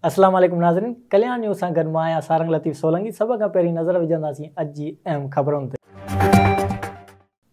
اسلام عليڪم ناظرين ڪليان نيوز سان گڏ مان آهيان سارنگ لطيف سولنگي سڀ کان پهرين نظر وجهنداسين اڄ جي اهم خبرن تي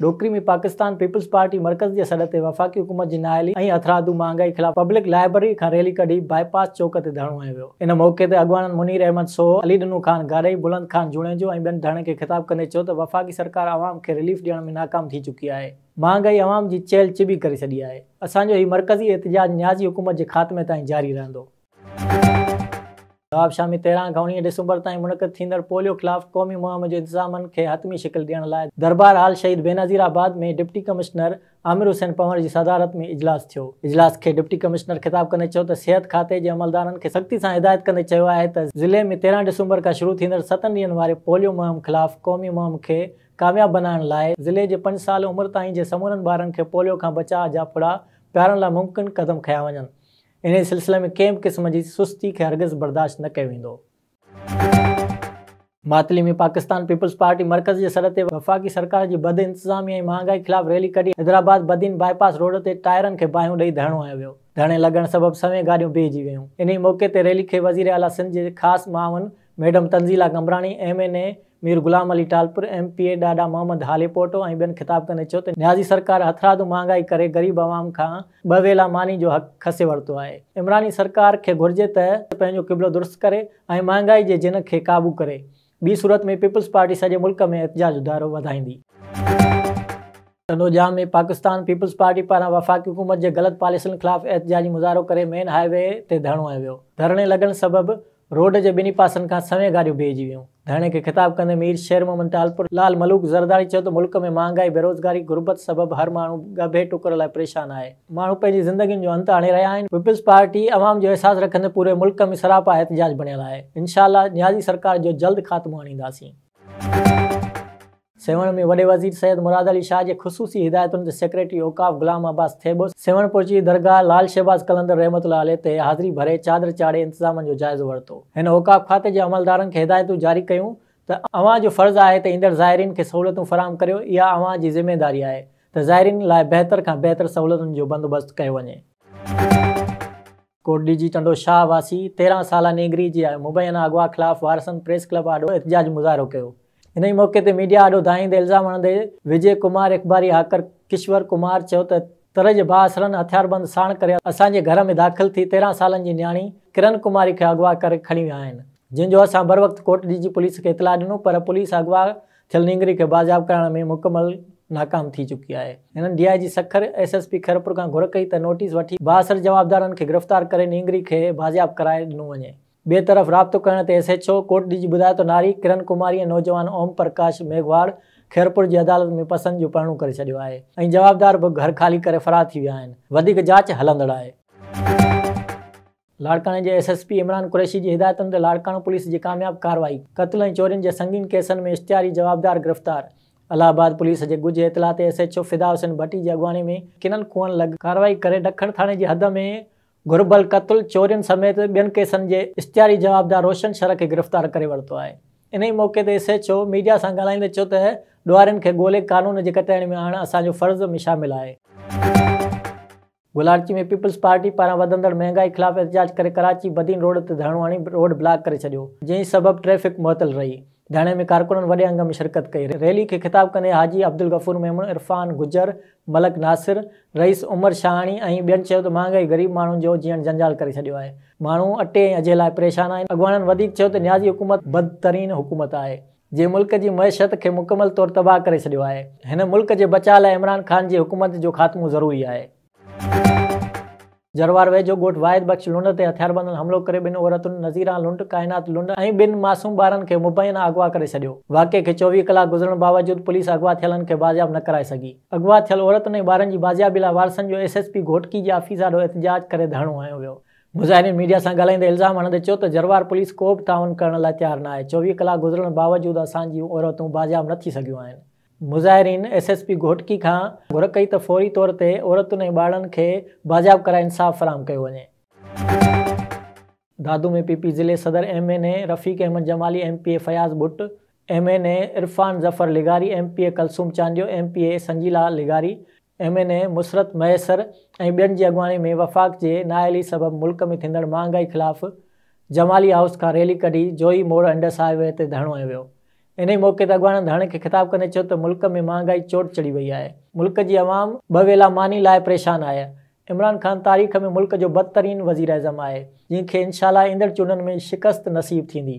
ڏوڪري ۾ پاڪستان پيپلز پارٽي مرڪز جي سڏ تي وفاقي حڪومت جي نااهلي ۽ هٿرادو مهانگائي خلاف پبلڪ لائبرري کان ريلي ڪڍي باء پاس چوڪ تي ڌرڻو هنيو ويو. ان موقعي تي اڳواڻن منير احمد سوهو، علي ڏنو خان گارئي، بلند خان جوڻيجو ۽ ٻين ڌڻين کي خطاب ڪندي چيو ته وفاقي سرڪار عوام کي رليف ڏيڻ ۾ ناڪام ٿي چڪي آهي، مهانگائي عوام جي چيلهه چٻي ڪري ڇڏي آهي، اسان جو هي مرڪزي احتجاج نيازي حڪومت جي خاتمي تائين جاري رهندو. نواب شامي تهران کان اوڻيهه ڊسمبر تائين منعقد ٿيندڙ پوليو خلاف قومي مهم جي انتظامن کي حتمي شڪل ڏيڻ لاء دربار hall Shaheed Benazirabad ۾ deputy commissioner Amir Hussain Panhwar جي صدارت ۾ اجلاس ٿيو، اجلاس کي ڊپٽي ڪمشنر خطاب ڪندي چيو ته صحت کاتي جي عملدارن کي سختي سان هدايت ڪندي چيو آهي ته ضلعي ۾ تيرهن ڊسمبر کان شروع ٿيندڙ ستن ڏينهن واري پوليو مهم خلاف قومي مهم کي ڪامياب بنائڻ لاء ضلعي جي پنج سال عمر تائين جي سمورن ٻارن کي پوليو کان بچاء جا ڦڙا پيارڻ لاء ممڪن قدم کنيا وڃن انهي سلسلي ۾ ڪنهن به قسم جي سستي کي هرگز برداشت نه ڪيو ويندو. ماتلي ۾ پاڪستان پيپلز پارٽي مرڪز جي سڏ تي وفاقي سرڪار جي بد انتظامي ۽ مهانگائي خلاف ريلي ڪڍي Hyderabad Badin bypass road تي ٽائرن کي باهيون ڏئي ڌرڻو هنيو ويو ڌرڻي لڳڻ سبب سوين گاڏيون بيهجي ويون انهي موقعي تي ريلي کي وزيراعليٰ سنڌ جي خاص معاون madam Tanzeela Qambrani M N A Mir Ghulam Ali Talpur, M P A Dada Muhammad Halepoto ۽ ٻين خطاب ڪندي چيو ته نيازي سرڪار هٿرادو مهانگائي ڪري غريب عوام کان ٻه ويلا ماني جو حق کسي ورتو آهي، عمراني سرڪار کي گهرجي ته پنهنجو قبلو درست ڪري ۽ مهانگائي جي جنھن کي قابو ڪري، ٻي صورت ۾ پيپلز پارٽي سڄي ملڪ ۾ احتجاج ادارو وڌائيندي. تنوجا ۾ پاڪستان پيپلز پارٽي پاران وفاقي حڪومت جي غلط پاليسن خلاف احتجاجي مظاهرو ڪري مين هاء وي تي ڌرڻو هنيو ويو، ڌرڻي لڳڻ سبب روڊ جي ٻنهي پاسن کان سوين گاڏيون بيهجي ويون، ڌرڻي کي خطاب ڪندي مير شير محمد ٽالپر لال ملوڪ زرداري چيو ته ملڪ ۾ مهانگائي، بيروزگاري، غربت سبب هر ماڻهو ڳڀي ٽڪر لاء پريشان آهي، ماڻهو پنهنجي زندگين جو انت آڻي رهيا آهن، پيپلز پارٽي عوام جو احساس رکندي پوري ملڪ ۾ سراپا احتجاج بڻيل آهي، انشاء الله نيازي سرڪار جو جلد خاتمو آڻينداسين. سيوهڻ ۾ وڏي وزير سيد مراد علي شاهه جي خصوصي هدايتن تي سيڪريٽري اوقاف غلام عباس ٿيٻو سيوهڻ پهچي درگاهه لعل شهباز قلندر رحمة الله عليه تي حاضري ڀري چادر چاڙهي انتظامن جو جائزو ورتو. هن اوقاف کاتي جي عملدارن کي هدايتون جاري ڪيون ته اوهان جو فرض آهي ته ايندڙ زائرين کي سهولتون فراهم ڪريو، اها اوهان جي ذميواري آهي ته زائرين لاء بهتر کان بهتر سهولتن جو بندوبست ڪيو وڃي. ڪوٽڏيهه جي ٽنڊو شاهه واسي تيرهن سالا نينگري جي مبينا اغوا خلاف وارثن پريس ڪلب آڏو احتجاجي مظاهرو ڪيو. انهي موقعي تي ميڊيا آڏو دانهيندي الزام هڻندي وجي ڪمار اخباري هاڪر ڪشور ڪمار چيو ته تر جي بااثرن هٿياربند ساڻ ڪري اسان جي گهر ۾ داخل ٿي تيرهن سالن جي نياڻي ڪرن ڪماري کي اغوا ڪري کڻي ويا آهن جنهن جو اسان بروقت ڪوٽڏيهه جي پوليس کي اطلاع ڏنو پر پوليس اغوا ٿيل نينگري کي بازياب ڪرائڻ ۾ مڪمل ناڪام ٿي چڪي آهي. هنن D I G Sukkur, S S P Khairpur کان گهر ڪئي ته نوٽيس وٺي بااثر جوابدارن کي گرفتار ڪري نينگري کي بازياب ڪرائي ڏنو وڃي. ٻئي طرف رابطو ڪرڻ تي S H O Kot Diji جي ٻڌايو ته ناري، ڪرن ڪماري ۽ نوجوان اوم پرڪاش ميگهواڙ خيرپور جي عدالت ۾ پسند جو پرڻو ڪري ڇڏيو آهي ۽ جوابدار به گهر خالي ڪري فرار ٿي ويا آهن. وڌيڪ جاچ هلندڙ آهي. لاڙڪاڻي جي S S P Imran Qureshi جي هدايتن تي لاڙڪاڻو پوليس جي ڪامياب ڪارروائي، قتل ۽ چورين جي سنگين ڪيسن ۾ اشتهاري جوابدار گرفتار، الهه آباد پوليس جي ڳجهه اطلاع تي S H O Fida Hussain Bhatti جي اڳواڻي ۾ ڪنن کوهن لڳ ڪارروائي ڪري ڊکڻ ٿاڻي جي حد ۾ گهربل قتل، چورين سميت ٻين ڪيسن جي اشتهاري جوابدار روشن شر کي گرفتار ڪري ورتو آهي، انهي موقعي تي ايس ايڇ او ميڊيا سان ڳالهائيندي چيو ته ڏوهارين کي ڳولي قانون جي ڪٽهڙي ۾ آڻڻ اسان جو فرض م شامل آهي. گلاڙچي ۾ پيپلز پارٽي پاران وڌندڙ مهانگائي خلاف احتجاج ڪري ڪراچي بدين روڊ تي ڌرڻو هڻي روڊ بلاڪ ڪري ڇڏيو، جنهن سبب ٽريفڪ معطل رهي، ڌرڻي ۾ ڪارڪنن وڏي انگ ۾ شرڪت ڪئي، ريلي کي خطاب ڪندي حاجي عبدالغفور ميمڻ، عرفان گجر، ملڪ ناصر، رئيس عمر شاهاڻي ۽ ٻين چيو ته مهانگائي غريب ماڻهن جو جيئڻ جنجال ڪري ڇڏيو آهي، ماڻهو اٽي ۽ اجهي لاء پريشان آهن، اڳواڻن وڌيڪ چيو ته نيازي حڪومت بدترين حڪومت آهي، جي ملڪ جي معيشت کي مڪمل طور تباهه ڪري ڇڏيو آهي، هن ملڪ جي بچاء لاء عمران خان جي حڪومت جو خاتمو ضروري آهي. جروار ويجهو ڳوٺ واحد بخش لنڊ تي هٿياربندن حملو ڪري ٻن عورتن نظيران لنڊ، ڪائنات لنڊ ۽ ٻن معصوم ٻارن کي مبينا اغوا ڪري ڇڏيو. واقعي کي چوويهه ڪلاڪ گذرڻ باوجود پوليس اغوا ٿيلن کي بازياب نه ڪرائي سگهي. اغوا ٿيل عورتن ۽ ٻارن جي بازيابي لاء وارثن جو ايس ايس پي گهوٽڪي جي آفيس آڏو احتجاج ڪري ڌرڻو هنيو ويو. مظاهرين ميڊيا سان ڳالهائيندي الزام هڻندي چيو ته جروار پوليس ڪو به تعاون ڪرڻ لاء تيار نه آهي، چوويهه ڪلاڪ گذرڻ باوجود اسان جون عورتون بازياب نه ٿي سگهيون آهن. مظاهرين ايس ايس پي گهوٽڪي کان گهر ڪئي ته فوري طور تي عورتن ۽ ٻارڙن کي بازياب ڪرائي انصاف فراهم ڪيو وڃي. دادو ۾ پي پي ضلعي صدر M N A Rafiq Ahmed Jamali, M P A Fayaz Bhatt, M N A Irfan Zafar لغاري، M P A Kulsoom Chandio, M P A Sanjeela لغاري، M N A Musarrat Mahesar ۽ ٻين جي اڳواڻي ۾ وفاق جي نااهلي سبب ملڪ ۾ ٿيندڙ مهانگائي خلاف جمالي هائوس کان ريلي ڪڍي جوهي موڙ انڊس هاء وي تي ڌرڻو هنيو ويو. انهي موقعي تي اڳواڻن ڌرڻي کي خطاب ڪندي چيو ته ملڪ ۾ مهانگائي چوٽ چڙهي وئي آهي، ملڪ جي عوام ٻه ويلا ماني لاء پريشان آهي، عمران خان تاريخ ۾ ملڪ جو بدترين وزيراعظم آهي، جنهن کي انشاءالله ايندڙ چونڊن ۾ شڪست نصيب ٿيندي.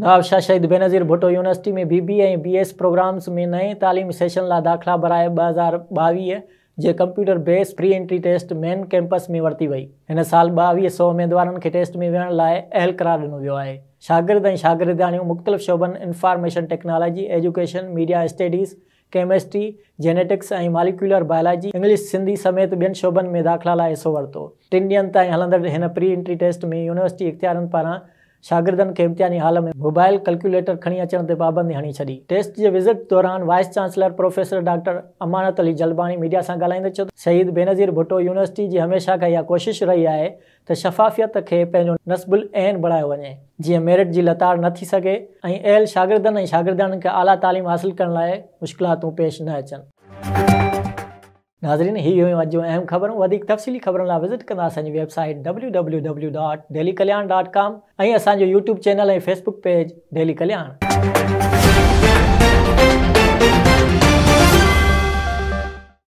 Nawab Shah Shaheed Benazir Bhutto University ۾ B B A ۽ B S programmes ۾ نئين تعليمي سيشن لاء داخلا برائي ٻه هزار ٻاويهه جي computer base pre entry test main campus ۾ ورتي وئي. هن سال ٻاويهه سؤ اميدوارن کي ٽيسٽ ۾ ويهڻ لاء اهل قرار ڏنو ويو آهي. شاگرد ۽ شاگردياڻيون مختلف شعبن information technology, education, media studies, chemistry, genetics ۽ molecular biology, English, Sindhi سميت ٻين شعبن ۾ داخلا لاء حصو ورتو. ٽن ڏينهن تائين هلندڙ هن پري انٽري ٽيسٽ ۾ يونيورسٽي اختيارين پاران شاگردن کي امتحاني هال ۾ موبائل ڪلڪيوليٽر کڻي اچڻ تي پابندي هڻي ڇڏي. ٽيسٽ جي وزٽ دوران vice chancellor professor doctor Amanat Ali Jalbani media سان ڳالهائيندي چيو ته شهيد بينظير ڀٽو يونيورسٽي جي هميشه کان اها ڪوشش رهي آهي ته شفافيت کي پنهنجو نصب العين بڻايو وڃي، جيئن ميرٽ جي لتاڙ نه ٿي سگهي ۽ اهل شاگردن ۽ شاگردياڻين کي اعليٰ تعليم حاصل ڪرڻ لاء مشڪلاتون پيش نه اچن. ناظرين هي هيون اڄ جون اهم خبرون وڌيڪ تفصيلي خبرن لاء وزٽ ڪندا اسان جي website W W W dot Delhi Kalyan dot com ۽ اسان جو YouTube channel ۽ Facebook page Delhi ڪلياڻ.